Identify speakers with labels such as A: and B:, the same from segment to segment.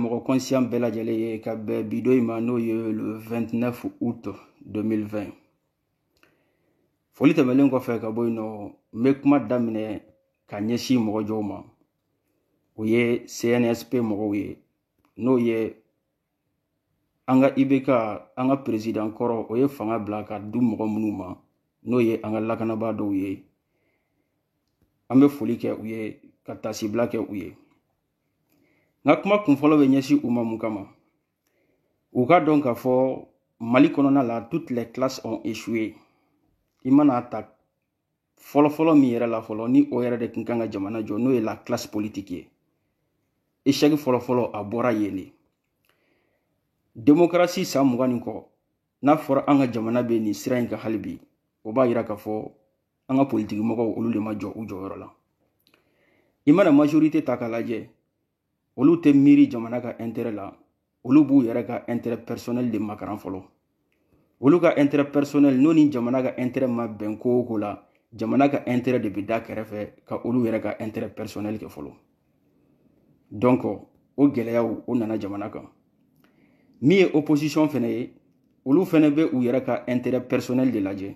A: mɔgɔ kɔnsiyan bɛɛ lajɛlen ye ka bɛn bi don in ma n'o ye le 29 août 2020 foli tɛmɛlen kɔfɛ ka bɔ yen nɔ n bɛ kuma daminɛ ka ɲɛsin mɔgɔ jɔnw ma o ye cnsp mɔgɔw ye n'o ye an ka ibk an ka perezidan kɔrɔ o ye fanga bila k'a di mɔgɔ minnu ma n'o ye an ka lakanabaa dɔw ye an bɛ foli kɛ u ye ka taasibila kɛ u ye n ka kuma kunfɔlɔ bɛ ɲɛsin u ma mun kama u k'a dɔn k'a fɔ mali kɔnɔna la toutes les classes ont échoué i mana a ta fɔlɔfɔlɔ min yɛrɛ la fɔlɔ ni o yɛrɛ de tun kan ka jamana jɔ n'o ye la classe politique ye échec fɔlɔfɔlɔ a bɔra yen de démocratie san mugan ni kɔ n'a fɔra an ka jamana bɛ nin sira in kan hali bi o b'a yira k'a fɔ an ka politiki mɔgɔw olu de ma jɔ u jɔyɔrɔ la i mana majorité ta k'a lajɛ olu tɛ miiri jamana ka intérêt la olu b'u yɛrɛ ka intérêt personnel de makaran fɔlɔ olu ka intérêt personnel n'o ni jamana ka intérêt ma bɛn ko o ko la jamana ka intérêt de bɛ da kɛrɛfɛ ka olu yɛrɛ ka intérêt personnel kɛ fɔlɔ donc o gɛlɛyaw o nana jamana kan min ye opposition fɛnɛ ye olu fɛnɛ bɛ u yɛrɛ ka intérêt personnel de lajɛ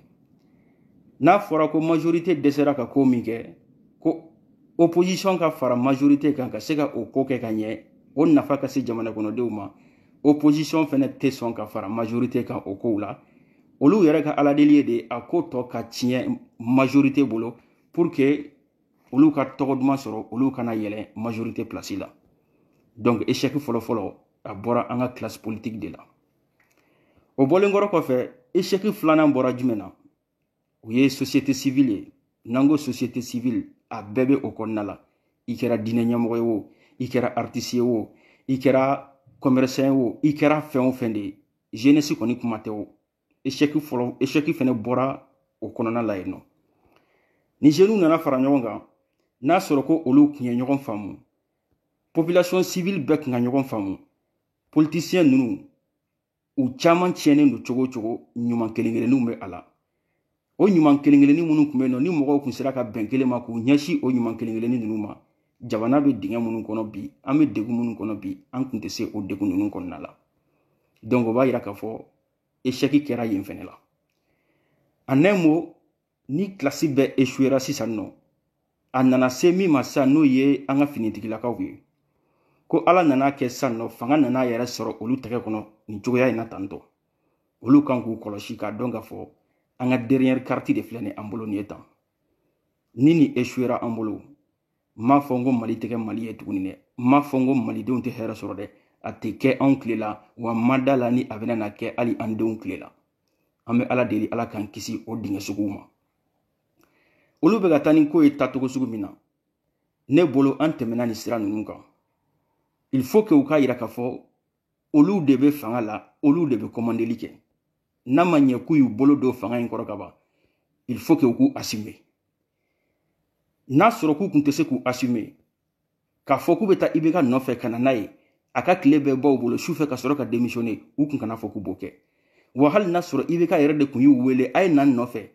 A: n'a fɔra ko majorité dɛsɛra ka ko min kɛ ko opposition ka fara majorité kan ka se ka o ko kɛ ka ɲɛ o nafa ka se jamana kɔnɔdenw ma opposition fɛnɛ tɛ sɔn ka fara majorité kan o kow la olu yɛrɛ ka aladeli ye de a ko tɔ ka tiɲɛ majorité bolo pour que olu ka tɔgɔ duman sɔrɔ olu ka na yɛlɛn majorité place la donc échec fɔlɔfɔlɔ a bɔra an ka classe politique de la o bɔlen kɔrɔ kɔfɛ échec filanan bɔra jumɛn na o ye société civile ye n'an ko société civile a bɛɛ bɛ o kɔnɔna la i kɛra diinɛ ɲɛmɔgɔ ye o i kɛra artiste ye o i kɛra commerçant ye o i kɛra fɛn o fɛn de ye jeunesse kɔni kuma tɛ o échec fɛnɛ bɔra o kɔnɔna la yen nɔ ni jeunes nana fara ɲɔgɔn kan n'a sɔrɔ ko olu tun ye ɲɔgɔn faamu population civile bɛɛ tun ka ɲɔgɔn faamu politisiyɛn ninnu u caman tiɲɛnen don cogo o cogo ɲuman kelen kelenninw bɛ a la o ɲuman kelen kelennin minnu tun bɛ yen nɔ ni mɔgɔw tun sera ka bɛn kelen ma k'u ɲɛsin o ɲuman kelen kelennin ninnu ma jamana bɛ dingɛ minnu kɔnɔ bi an bɛ degun minnu kɔnɔ bi an tun tɛ se o degun ninnu kɔnɔna la donc o b'a yira k'a fɔ échec kɛra yen fɛnɛ la en un mot ni classe bɛɛ échouera sisan nɔ a nana se min ma sisan n'o ye an ka finitigilakaw ye ko ala nana a kɛ sisan nɔ fanga nana a yɛrɛ sɔrɔ olu tɛgɛ kɔnɔ nin cogoya in na tantɔ olu kan k'u kɔlɔsi k'a dɔn k'a fɔ an ka dernière carte de filɛ nin an bolo nin ye tan ni nin échouera an bolo m'a fɔ n ko mali tɛ kɛ mali ye tuguni dɛ m'a fɔ n ko malidenw tɛ hɛrɛ sɔrɔ dɛ a tɛ kɛ anw tile la wa ma da a la ni a bɛna na kɛ hali an denw tile la an bɛ ala deli ala k'an kisi o dingɛ suguw ma olu bɛ ka taa ni ko ye taacogo sugu min na ne bolo an tɛmɛna nin sira ninnu kan il faut que u k'a yira k'a fɔ olu de bɛ fanga la olu de bɛ kɔmandeli kɛ n'a ma ɲɛ k'u y'u bolo don fanga in kɔrɔ ka ban il faut que u k'u assumer n'a sɔrɔ k'u tun tɛ se k'u assumer k'a fɔ k'u bɛ taa ibk nɔfɛ ka na n'a ye a ka tile bɛɛ ban u bolo sufɛ ka sɔrɔ ka démissionner u tun kan'a fɔ k'u b'o kɛ wa hali n'a sɔrɔ ibk yɛrɛ de tun y'u wele a ye na n nɔfɛ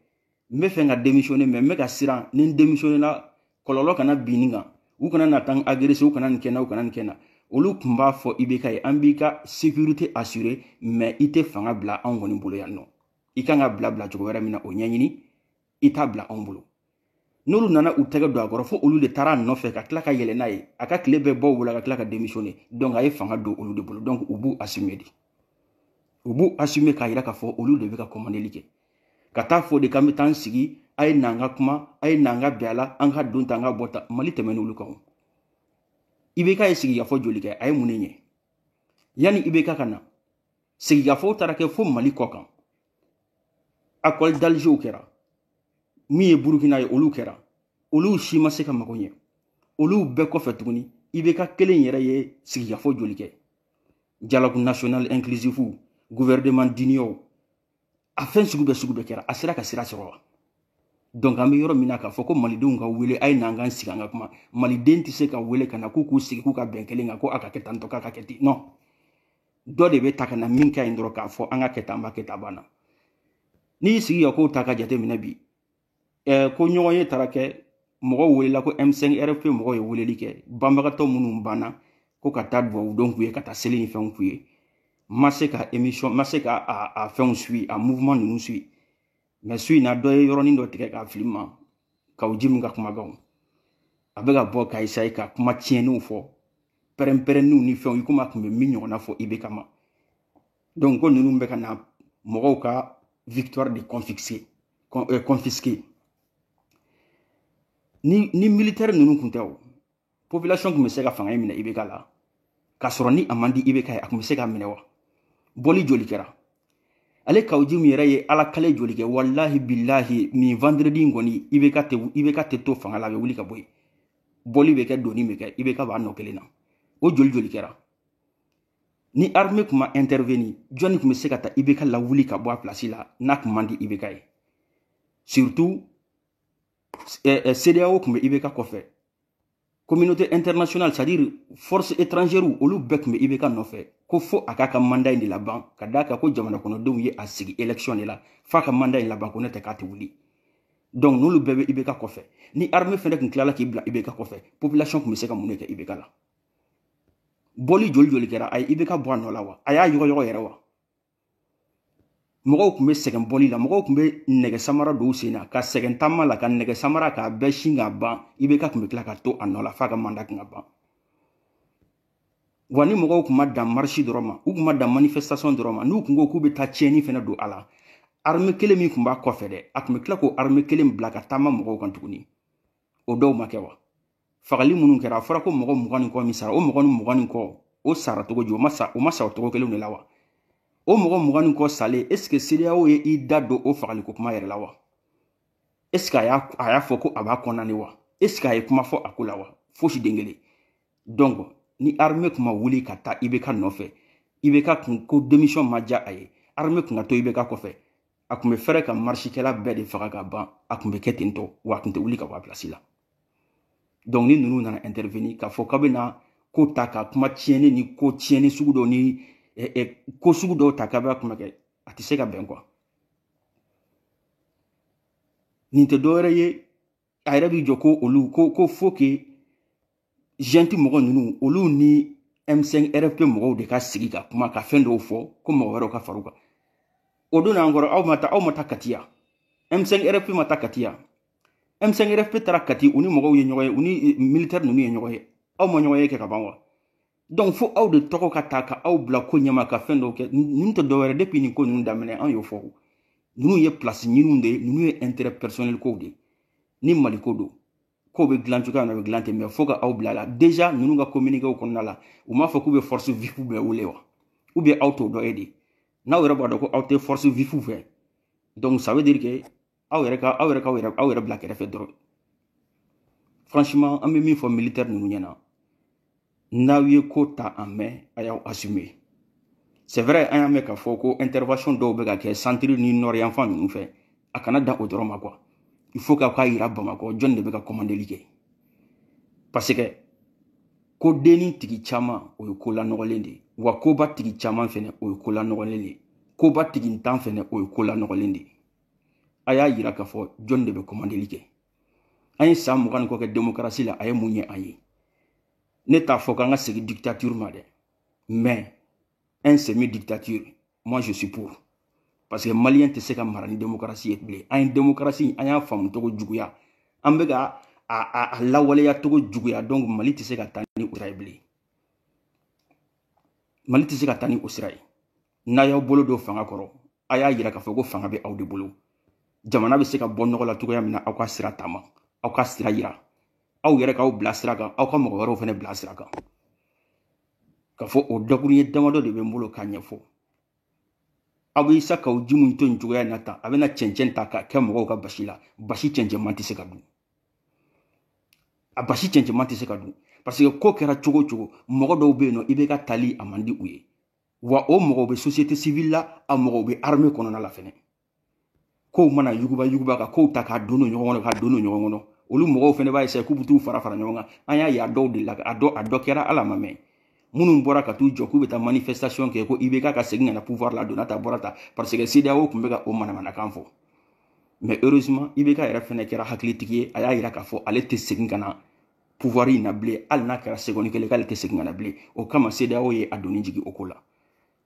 A: n b'a fɛ ka démissionner mais n bɛ ka siran ni n démissionner la kɔlɔlɔ kana bin ne kan u kana na taa n agresser u kana nin kɛ n na u kana nin kɛ n na olu tun b'a fɔ ibk ye an b'i ka sécurité assurer mais i tɛ fanga bila anw kɔni bolo yan nɔ i kan k'a bila bilacogo wɛrɛ min na o ɲɛɲini i t'a bila anw bolo n'olu nana u tɛgɛ don a kɔrɔ fo olu de taara a nɔfɛ ka tila ka yɛlɛ n'a ye a ka tile bɛɛ bɔ wula ka tila ka démissionner donc a ye fanga don olu de bolo donc u b'u assumer de u b'u assumer k'a yira k'a fɔ olu de bɛ ka commandeli kɛ ka taa fɔ de k'an bɛ taa an sigi a ye n'an ka kuma a ye n'an ka bɛn a la an ka don tan an ka bɔ tan mali tɛmɛn'olu kan o ibk ye sigikafɔ joli kɛ a ye mun de ɲɛ yanni ibk ka na sigikafɔw taara kɛ fo mali kɔkan accord d'algerw kɛra min ye burukina ye olu kɛra olu si ma se ka mago ɲɛ olu bɛɛ kɔfɛ tuguni ibk kelen yɛrɛ ye sigikafɔ joli kɛ dialogue national inclusif gouvernement d'union a fɛn sugu bɛɛ sugu bɛɛ kɛra a sera ka sira sɔrɔ wa donc an bɛ yɔrɔ min na k'a fɔ ko malidenw ka wele a ye n'an k'an sigi an ka kuma maliden tɛ se ka wele ka na k'u k'u sigi k'u ka bɛn kelen kan ko a ka kɛ tan dɔ k'a ka kɛ ten non dɔ de bɛ ta ka na min ka ɲi dɔrɔn k'a fɔ an k'a kɛ tan an b'a kɛ tan a banna n'i y'i sigi ka kow ta ka jateminɛ bi eh, ko ɲɔgɔnye taara kɛ mɔgɔw welela ko m5 rfp mɔgɔ ye weleli kɛ banbagatɔ minnu banna ko ka taa dugawu don k'u ye ka taa seli ni fɛnw k'u ye ma se ka émission ma se ka a, a fɛnw suit a mouvement ninnu suit mais su in na dɔ ye yɔrɔnin dɔ tigɛ k'a fili n ma kawu jim ka kumakanw a bɛ ka bɔ ka essayer ka kuma tiɲɛniw fɔ pɛrɛnpɛrɛnniw ni fɛnw i komi a tun bɛ min ɲɔgɔnna fɔ ibk ma donc ko ninnu bɛ ka na mɔgɔw ka victoire de confisquer confisquer ni ni militaire ninnu tun tɛ o population tun bɛ se ka fanga in minɛ ibk la k'a sɔrɔ ni a man di ibk ye a tun bɛ se k'a minɛ wa bɔli joli kɛra ale kawu jim yɛrɛ ye ala kali joli kɛ walahi bilahi nin vendredi in kɔni ibk tɛ ibk tɛ to fanga la a bɛ wuli ka bɔ yen bɔli bɛ kɛ donni bɛ kɛ ibk b'a nɔ kelen na o joli joli kɛra ni armée tun ma intervenir jɔnni tun bɛ se ka taa ibk lawuli ka bɔ a place la n'a tun man di ibk ye surtout eh, eh, cedeao tun bɛ ibk kɔfɛ communauté internationale c'est à dire force étrangère olu bɛɛ tun bɛ ibk nɔfɛ ko fo a k'a ka mandat in de laban ka d'a kan ko jamana kɔnɔdenw ye a sigi élection de la f'a ka mandat in laban ko ne tɛ k'a tɛ wuli donc n'olu bɛɛ bɛ ibk kɔfɛ ni armée fɛnɛ tun tilala k'i bila ibk kɔfɛ population tun bɛ se ka mun de kɛ ibk la bɔli joli joli kɛra a ye ibk bɔ a nɔ la wa a y'a yɔgɔyɔgɔ yɛrɛ wa mɔgɔw tun bɛ sɛgɛn bɔli la mɔgɔw tun bɛ nɛgɛ samara don u sen na ka sɛgɛn taama la ka nɛgɛ samara k'a bɛɛ sin k'a ban ibk tun bɛ tila ka to a nɔ la f'a ka mandat tun ka ban wa ni mɔgɔw tun ma dan marche dɔrɔn ma u tun ma dan manifestation dɔrɔn ma n'u tun ko k'u bɛ taa tiɲɛni fɛnɛ don a la armée kelen min tun b'a kɔfɛ dɛ a tun bɛ tila k'o armée kelen bila ka taama mɔgɔw kan tuguni o dɔw ma kɛ wa fagali minnu kɛra a fɔra ko mɔgɔ mugan ni kɔ min sara o mɔgɔ ni mugan ni kɔ o sara cogo di o ma sa o ma sa o cogo kelen de la wa o mɔgɔ mugan ni kɔ salen est ce que cedeao ye i da don o fagaliko kuma yɛrɛ la wa est ce que a y'a a y'a fɔ ko a b'a condamné wa est ce que a ye kuma fɔ a ko la wa fosi den kelen donc ni armée tun ma wuli ka taa ibk nɔfɛ ibk kun ko démission ma diya a ye armée tun ka to ibk kɔfɛ a tun bɛ fɛrɛ ka marchekɛla bɛɛ de faga ka ban a tun bɛ kɛ ten tɔ wa a tun tɛ wuli ka bɔ a place la donc ni ninnu nana intervenir k'a fɔ k'a bɛna ko ta ka kuma tiɲɛni ni ko tiɲɛni sugu dɔ ni eh, eh, ko sugu dɔw ta k'a bɛ kuma kɛ a tɛ se ka bɛn quoi nin tɛ dɔwɛrɛ ye a yɛrɛ b'i jɔ ko olu ko ko faut que junte mɔgɔ ninnu olu ni m5 rfp mɔgɔw de ka sigi ka kuma ka fɛn dɔw fɔ ko mɔgɔ wɛrɛw ka far'u kan o don n'an kɔrɔ aw ma taa aw ma taa kati ya m5 rfp ma taa kati ya M5RFP taara Kati u ni mɔgɔw ye ɲɔgɔn ye u ni eh, militaire ninnu ye ɲɔgɔn ye aw ma ɲɔgɔn ye kɛ ka ban wa donc fo aw de tɔgɔ ka ta ka aw bila ko ɲɛma ka fɛn dɔw kɛ ninnu tɛ dɔwɛrɛ depuis nin ko ninnu daminɛ an y'o fɔ ninnu ye place ɲiniw de ye ninnu ye intérêt personnel kow de ye ni mali ko don ko bɛ dilan cogoya min na o bɛ dilan ten mais fo ka aw bila la déjà ninnu ka communiquéw kɔnɔna la u m'a fɔ k'u bɛ force vive bɛɛ wele wa ou bien aw t'o dɔ ye de n'aw yɛrɛ b'a dɔn ko aw tɛ force vive fɛ donc ça veut dire que aw yɛrɛ ka aw yɛrɛ ka aw yɛrɛ bila kɛrɛfɛ dɔrɔn franchement an bɛ min fɔ militaire ninnu ɲɛna n'aw ye ko ta en main a y'aw assumer c'est vrai an y'a mɛn k'a fɔ ko intervention dɔw bɛ ka kɛ centre ni nord yanfan ninnu fɛ a kana dan o dɔrɔn ma quoi il faut k'aw k'a yira bamakɔ jɔni de bɛ ka commandeli kɛ parce que ko denni tigi caman o ye ko lanɔgɔlen de ye wa koba tigi caman fɛnɛ o ye ko lanɔgɔlen de ye koba tigintan fɛnɛ o ye ko lanɔgɔlen de ye a y'a yira k'a fɔ jɔn de bɛ kɔmandeli kɛ an ye san mugan ni kɔ kɛ demokarasi la a ye mun ɲɛ an ye ne t'a fɔ k'an ka segin dictature ma dɛ mais un semi dictature moi je suis pour parce que maliyɛn tɛ se ka mara ni demokarasi ye bilen an ye demokarasi an y'a faamu cogo juguya an bɛ ka a lawaleya cogo juguya donc mali tɛ se ka taa ni o sira ye bilen mali tɛ se ka taa ni o sira ye n'a y'aw bolo don fanga kɔrɔ a y'a yira k'a fɔ ko fanga bɛ aw de bolo jamana bɛ se ka bɔ nɔgɔ la cogoya min na aw ka sira taama aw ka sira yira aw yɛrɛ k'aw bila sira kan aw ka mɔgɔ wɛrɛw fɛnɛ bila sira kan k'a fɔ o dakuruɲɛ damadɔ de bɛ n bolo k'a ɲɛfɔ aw bɛ isa kawo jim to nin cogoya in na tan a bɛna cɛncɛn ta k'a kɛ mɔgɔw ka basi la basi cɛncɛnman tɛ se ka dun a basi cɛncɛnman tɛ se ka dun parce que ko kɛra cogo o cogo mɔgɔ dɔw bɛ yen nɔ ibk tali a man di u ye wa o mɔgɔw bɛ société civile la a mɔgɔw bɛ armée kɔnɔna la fɛnɛ kow mana yuguba yuguba ka kow ta k'a don don ɲɔgɔn kɔnɔ k'a don don ɲɔgɔn kɔnɔ olu mɔgɔw fɛnɛ b'a essayer k'u bɛ t'u fara fara ɲɔgɔn kan an y'a ye a dɔw delila a dɔ a dɔ kɛra ala ma mɛn minnu bɔra ka t'u jɔ k'u bɛ taa manifestation kɛ ko ibk ka segin ka na pouvoir la donna ta bɔra ta parce que cedeao tun bɛ ka o manamanakan fɔ mais heureusement ibk yɛrɛ fɛnɛ kɛra hakilitigi ye a y'a yira k'a fɔ ale tɛ segin ka na pouvoir in na bilen hali n'a kɛra seconde kelen k'ale tɛ segin ka na bilen o kama CEDEAO ye a doni jigin o ko la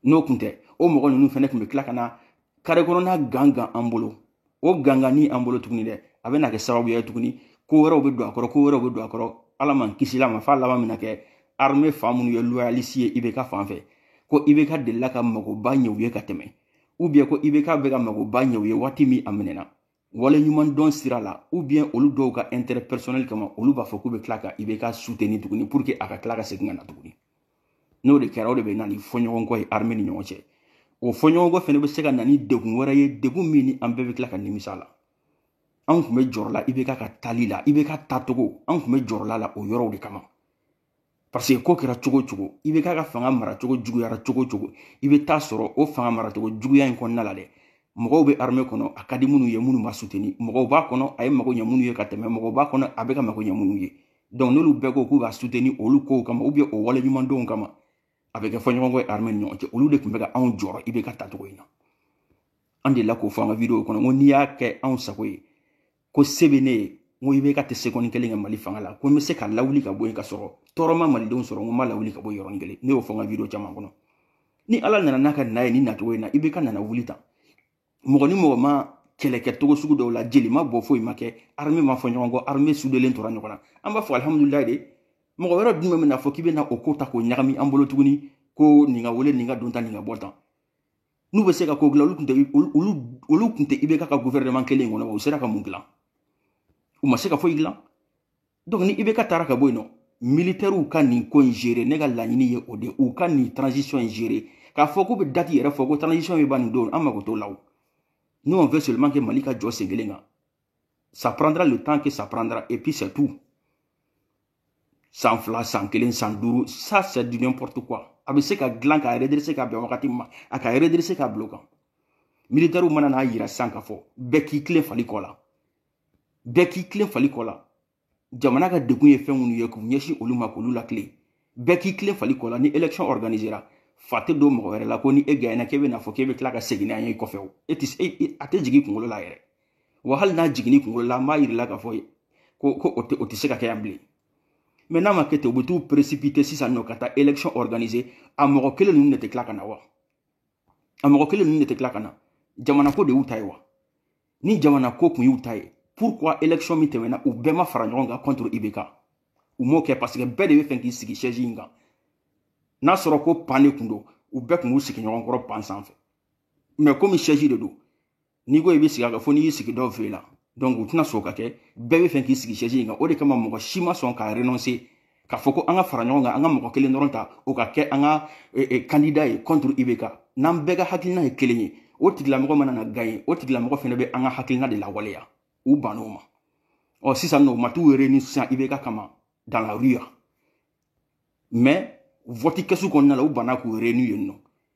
A: n'o tun tɛ o mɔgɔ ninnu fɛnɛ tun bɛ tila ka na kare kɔnɔna gangan an bolo o gangani an bolo tuguni dɛ a bɛna kɛ sababuya ye tuguni ko wɛrɛw bɛ don a kɔrɔ ko wɛrɛw bɛ don a kɔrɔ ala m'an kisi la ma f'a laban bɛna kɛ armée fan minnu ye loyaliste ye ibk fan fɛ ko ibk delila ka magoba ɲɛ u ye ka tɛmɛ ou bien ko ibk bɛ ka magoba ɲɛ u ye waati min a minɛna wale ɲuman dɔn sira la ou bien olu dɔw ka intérêt personnel kama olu b'a fɔ k'u bɛ tila ka ibk soutenir tuguni pour que a ka tila ka segin ka na tuguni n'o de kɛra o de bɛ na ni fɔɲɔgɔnkɔ ye armée ni ɲɔgɔn cɛ o fɔɲɔgɔnkɔ fɛnɛ bɛ se ka na ni degun wɛrɛ ye degun min ni an bɛɛ bɛ tila ka nimisa la an tun bɛ jɔrɔ la ibk ka tali la ibk tacogo an tun bɛ jɔrɔ la la o yɔrɔw de kama parce que ko kɛra cogo cogo ibk ka fanga maracogo juguyara cogo cogo i bɛ t'a sɔrɔ o fanga maracogo juguya in kɔnɔna la dɛ mɔgɔw bɛ armée kɔnɔ a ka di minnu ye minnu m'a soutenir mɔgɔw b'a kɔnɔ a ye mago ɲɛ minnu ye ka tɛmɛ mɔgɔw b'a kɔnɔ a bɛ ka mago ɲɛ minnu ye donc n'olu bɛɛ ko k'u b'a soutenir olu kow kama ou bien o waleɲumandɔnw kama a bɛ kɛ fɔɲɔgɔnkɔ ye armée ni ɲɔgɔn cɛ olu de tun bɛ ka anw jɔrɔ ibk tacogo in na an delila k'o fɔ an ka video kɔnɔ ko n'i y'a kɛ anw sago ye ko se bɛ ne ye n ko ibk tɛ seconde kelen kɛ mali fanga la ko n bɛ se k'a lawuli ka bɔ yen ka sɔrɔ tɔɔrɔ ma malidenw sɔrɔ n ko n m'a lawuli ka bɔ yɔrɔnin kelen ne y'o fɔ n ka video caman kɔnɔ ni ala nana n'a ka na ye ni nacogo in na ibk nana wuli tan mɔgɔ ni mɔgɔ ma kɛlɛ kɛ cogo sugu dɔw la jeli ma bɔ foyi ma kɛ armée ma fɔ ɲɔgɔn kɔ armée sudelen tora ɲɔgɔn na an b'a fɔ alihamudulilayi de mɔgɔ wɛrɛ jumɛn bɛna fɔ k'i bɛ na o ko ta k'o ɲagami an bolo tuguni ko nin ka wele nin ka don tan nin ka bɔ tan n'u bɛ se ka ko dilan olu tun tɛ IBK ka gouvernement kelen in kɔnɔ u sera ka mun dilan u ma se ka foyi dilan donc ni IBK taara ka bɔ yen nɔ militɛriw ka nin ko in gérer ne ka laɲini ye o de u ka nin transition in gérer k'a fɔ k'u bɛ date yɛrɛ fɔ ko transition bɛ ban nin don an mago t'o la o nous on veut seulement que Mali ka jɔ sen kelen kan ça prendra le temps que ça prendra et puis c'est tout san fila san kelen san duuru ça c'est du n'importe quoi a bɛ se ka dilan ka redresser ka bɛn wagati ma a ka redresser ka bila o kan militaires mana n'a yira sisan k'a fɔ bɛɛ k'i tilen fali kɔ la bɛɛ k'i tilen fali kɔ la jamana ka degun ye fɛn minnu ye k'u ɲɛsin olu ma k'olu latilen bɛɛ k'i tilen fali kɔ la ni élection organisera fa tɛ don mɔgɔ wɛrɛ la ko ni e gagnera k'e bɛn'a fɔ k'e bɛ tila ka segin n'an ye kɔfɛ o e tɛ e, e, a tɛ jigin kunkolo la yɛrɛ wa hali n'a jiginn'i kunkolo la an b'a yir'i la k'a fɔ ko ko o tɛ o tɛ se ka kɛ yan bilen mais n'a ma kɛ ten u bɛ t'u précipiter sisan nɔ ka taa élection organiser a mɔgɔ kelen ninnu de tɛ tila ka na wa a mɔgɔ kelen ninnu de tɛ tila ka na jamanako de y'u ta ye wa ni jamana ko kun y'u ta ye pourquoi élection min tɛmɛna u bɛɛ ma fara ɲɔgɔn kan contre IBK u m'o kɛ parce que bɛɛ de b'a fɛ k'i sigi chaise in kan n'a sɔrɔ ko banc de kun don u bɛɛ kun b'u sigi ɲɔgɔn kɔrɔ banc sanfɛ mais komi chaise de don n'i ko i bɛ sigi a kan fo n'i y'i sigi dɔw fɛ la donc u tɛna sɔn k'a kɛ bɛɛ b'a fɛ k'i sigi chaise in kan o de kama mɔgɔ si ma sɔn ka renoncer k'a fɔ ko an ka fara ɲɔgɔn kan an ka mɔgɔ kelen dɔrɔn ta o ka kɛ an ka kandida e, e, ye contre IBK n'an bɛɛ ka hakilina ye kelen ye o tigilamɔgɔ mana na gagner o tigilamɔgɔ fana bɛ an ka hakilina de lawaleya u bann'o ma ɔ sisan nɔ u ma t'u réunir sisan IBK kama dans la rue mais vɔti kɛsu kɔnɔna la u banna k'u réunir yen nɔ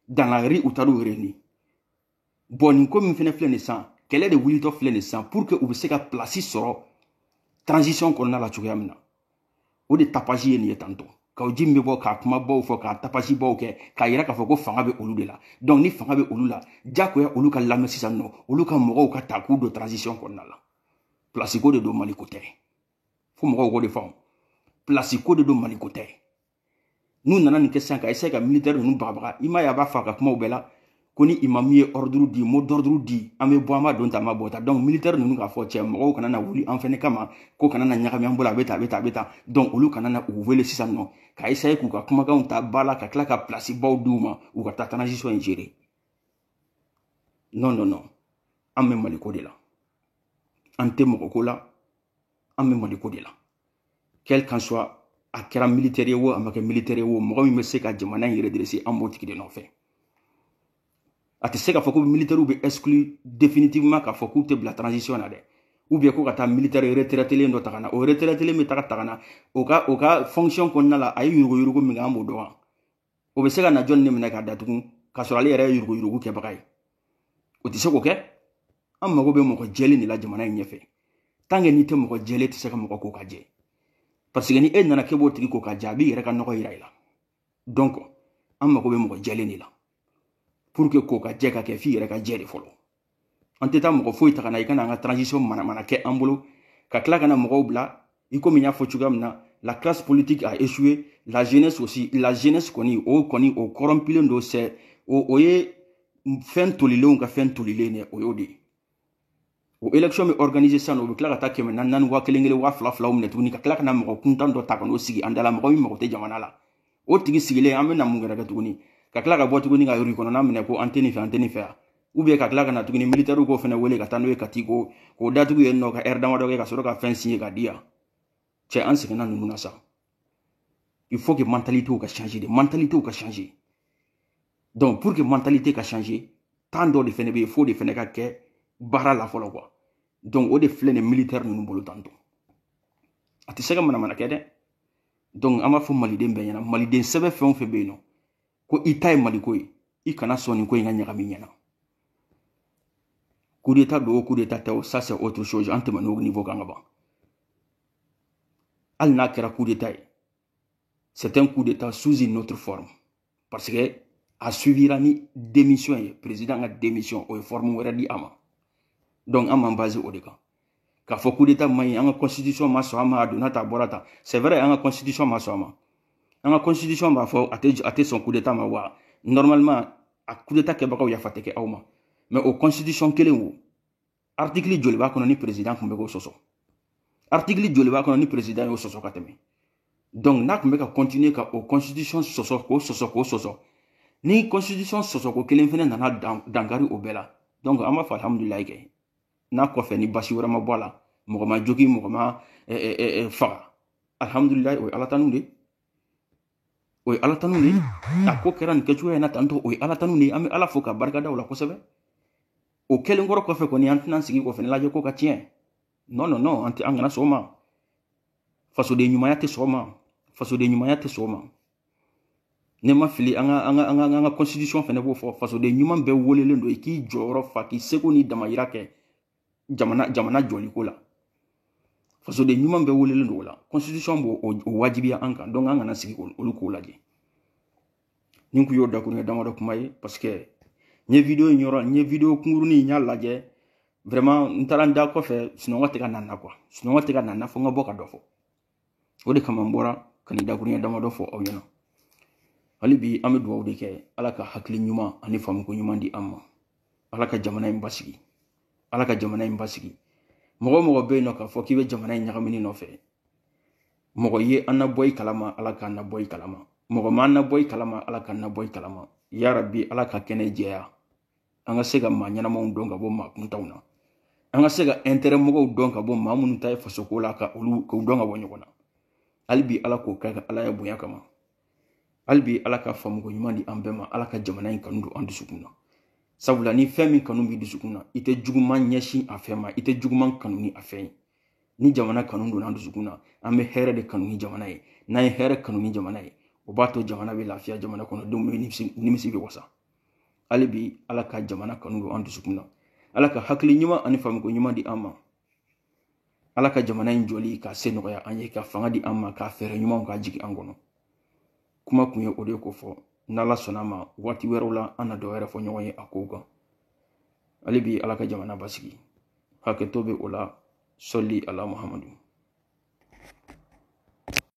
A: dans la rue u taar'u réunir bon nin ko min fɛnɛ filɛ nin sisan kɛlɛ de wulitɔ filɛ nin sisan pour que u bɛ se ka plasi sɔrɔ transition kɔnɔna la cogoya min na o de tapage ye nin ye tantôt Kaou Djim bɛ bɔ ka kumabaw fɔ ka tapagebaw kɛ k'a yira k'a fɔ ko fanga bɛ olu de la donc ni fanga bɛ olu la diyagoya olu ka lamɛn sisan nɔ olu ka mɔgɔw ka ta k'u don transition kɔnɔna la plasiko de don maliko tɛ fo mɔgɔw k'o de faamu plasiko de don maliko tɛ n'u nana nin kɛ sisan ka essayer ka militaire ninnu bagabaga i m'a ye a b'a fɔ a ka kumaw bɛɛ la ko ni imamu ye ordre di mot d'ordre di an bɛ bɔ an b'a don ta an b'a bɔ ta donc militaire ninnu k'a fɔ cɛ mɔgɔw kana na wuli an fɛnɛ kama ko kana na ɲagami an bolo a bɛ ta a bɛ ta a bɛ ta donc olu kana na u wele sisan nɔ ka essayer k'u ka kumakanw ta ba la ka tila ka place baw di u ma u ka taa transition in gérer non non non an bɛ maliko de la an tɛ mɔgɔ ko la an bɛ maliko de la quel qu'en soit a kɛra militaire ye wo a ma kɛ militaire ye wo mɔgɔ min bɛ se ka jamana in redresser an b'o tigi de nɔfɛ a tɛ se k'a fɔ ko militaires bɛ exclu définitivement k'a fɔ k'u tɛ bila transition na dɛ ou bien ko ka taa militaire retraitelen dɔ ta ka na o retraitelen bɛ taga ta ka na o ka o ka fonction kɔnɔna la a ye yuruguyurugu min kɛ an b'o dɔn wa o bɛ se ka na jɔni de minɛ k'a datugu k'a sɔrɔ ale yɛrɛ ye yuruguyurugu kɛbaga ye o tɛ se k'o kɛ an mago bɛ mɔgɔ jɛlen de la jamana in ɲɛfɛ tant que n'i tɛ mɔgɔ jɛlen tɛ se ka mɔgɔ ko ka jɛ parce que ni e nana k'e b'o tigi ko ka jɛ a b'i yɛrɛ ka nɔgɔ yira i la donc an mago bɛ mɔgɔ jɛlen de la pour que kokajɛ ka kɛ f'i yɛrɛ ka jɛ de fɔlɔ an tɛ taa mɔgɔ foyi ta ka na i ka na an ka transition manamana kɛ an bolo ka tila ka na mɔgɔw bila i komi n y'a fɔ cogoya min na la classe politique a échoué la jeunesse aussi la jeunesse kɔni o kɔni o corrompilen don c'est o o ye fɛn tolilenw ka fɛn tolilen ye o y'o de ye o élection bɛ organiser sisan o bɛ tila ka taa kɛmɛ naani naani waa kelen kelen waa fila filaw minɛ tuguni ka tila ka na mɔgɔ kuntan dɔ ta ka n'o sigi an dala mɔgɔ min mago tɛ jamana la o tigi sigilen an bɛna mun kɛra kɛ tuguni ka tila ka bɔ tuguni ka yɔrɔ kɔnɔna minɛ ko an tɛ nin fɛ an tɛ nin fɛ yan ou bien ka tila ka na tuguni militɛriw k'o fana wele ka taa n'o ye kati ko k'o datugu yen nɔ ka ɛri damadɔ kɛ ka sɔrɔ ka fɛn signer ka di yan cɛ an seginna ninnu na sa il faut que mentalité ka changer de mentalité ka changer donc pour que mentalité ka changer temps dɔ de fana bɛ yen f'o de fana ka kɛ baara la fɔlɔ quoi donc o de filɛ nin militɛri ninnu bolo tantɔ a tɛ se ka manamanakɛ dɛ donc an b'a fɔ maliden bɛɛ ɲɛna maliden sɛbɛ fɛn o fɛn bɛ yen nɔ ko i ta ye maliko ye i kana sɔn nin ko in ka ɲagami i ɲɛna coup d'état don o coup d'état tɛ o ça c'est autre chose an tɛmɛnna o niveau kan ka ban hali n'a kɛra coup d'état ye c'est un coup d'état sous une autre forme parce que a suivira ni démission ye président ka démission o ye forme wɛrɛ di a ma donc an m'an base o de kan k'a fɔ coup d'état man ɲi an ka constitution ma sɔn a ma a donna tan a bɔra tan c'est vrai an ka constitution ma sɔn a ma an ka constitution b'a fɔ a tɛ a tɛ sɔn coup d'état ma wa normalement a coup d'état kɛbagaw yafa tɛ kɛ aw ma mais o constitution kelen wo artikili joli b'a kɔnɔ ni perezidan tun bɛ k'o sɔsɔ artikili joli b'a kɔnɔ ni perezidan y'o sɔsɔ ka tɛmɛ donc n'a tun bɛ ka continuer ka o constitution sɔsɔ k'o sɔsɔ k'o sɔsɔ ni constitution sɔsɔko kelen fana nana dankari o bɛɛ la donc an b'a fɔ alhamdulilayi kɛ n'a kɔfɛ ni baasi wɛrɛ ma bɔ a la mɔgɔ ma jogi mɔgɔ ma faga alhamdulilayi o ye ala tanu de ye o ye ala tanu de ye a ko kɛra nin kɛcogoya in na tantɔ o ye ala tanu de ye an bɛ ala fo ka barika da o la kosɛbɛ o kɛlen kɔrɔ kɔfɛ kɔni an tɛna sigi k'o fana lajɛ k'o ka tiɲɛ non non non an tɛ an kana sɔn o ma fasoden ɲumanya tɛ sɔn o ma fasoden ɲumanya tɛ sɔn o ma ni n ma fili an ka an ka an ka an ka constitution fana b'o fɔ fasoden ɲuman bɛɛ welelen don i k'i jɔyɔrɔ fa k'i seko n'i damayira kɛ jamana jamana jɔli ko la fasoden ɲuman bɛɛ welelen don o la constitution b'o o wajibiya an kan donc an kana sigi olu k'o lajɛ nin kun y'o dakuruɲɛ damadɔ kuma ye parce que n ye video in yɔrɔ n ye video kunkurunin n y'a lajɛ vraiment n taara n da kɔfɛ sunɔgɔ tɛ ka na n na quoi sunɔgɔ tɛ ka na n na fo n ka bɔ ka dɔ fɔ o de kama n bɔra ka nin dakurunya damadɔ fɔ aw ɲɛna hali bi an bɛ dugawu de kɛ ala ka hakili ɲuman ani faamuko ɲuman di an ma ala ka jamana in basigi ala ka jamana in basigi mɔgɔ mɔgɔ bɛ yen n'o k'a fɔ k'i bɛ jamana in ɲagamini nɔfɛ mɔgɔ ye an na bɔ i kalama ala k'an na bɔ i kalama mɔgɔ ma an na bɔ i kalama ala k'an na bɔ i kalama yarabi ala ka kɛnɛ jɛya an ka se ka maa ɲɛnamaw dɔn ka bɔ maa kuntanw na an ka se ka intérêt mɔgɔw dɔn ka bɔ maa minnu ta ye fasoko la ka olu k'u dɔn ka bɔ ɲɔgɔn na hali bi ala k'o kɛ a ka alaya bonya kama hali bi ala ka faamuyako ɲuman di an bɛɛ ma ala ka jamana in kanu don an dusukun na sabula ni fɛn min kanu b'i dusukun na i tɛ juguman ɲɛsin a fɛn ma i tɛ juguman kanu ni a fɛn ye ni jamana kanu donna an dusukun na an bɛ hɛrɛ de kanu ni jamana ye n'an ye hɛrɛ kanu ni jamana ye o b'a to jamana bɛ lafiya jamana kɔnɔ denw nimisi bɛ wasa hali bi ala ka jamana kanu don an dusukun na ala ka hakili ɲuman ani faamiko ɲuman di an ma ala ka jamana in jɔli k'a se nɔgɔya an ye ka fanga di an ma ka fɛɛrɛ ɲumanw k'a jigin an kɔnɔ kuma kun ye o de kofɔ n'ala sɔnna ma waati wɛrɛw la an na dɔ wɛrɛ fɔ ɲɔgɔn ye a kow kan hali bi ala ka jamana basigi hakɛto bɛ o la sɔli ala muhamadu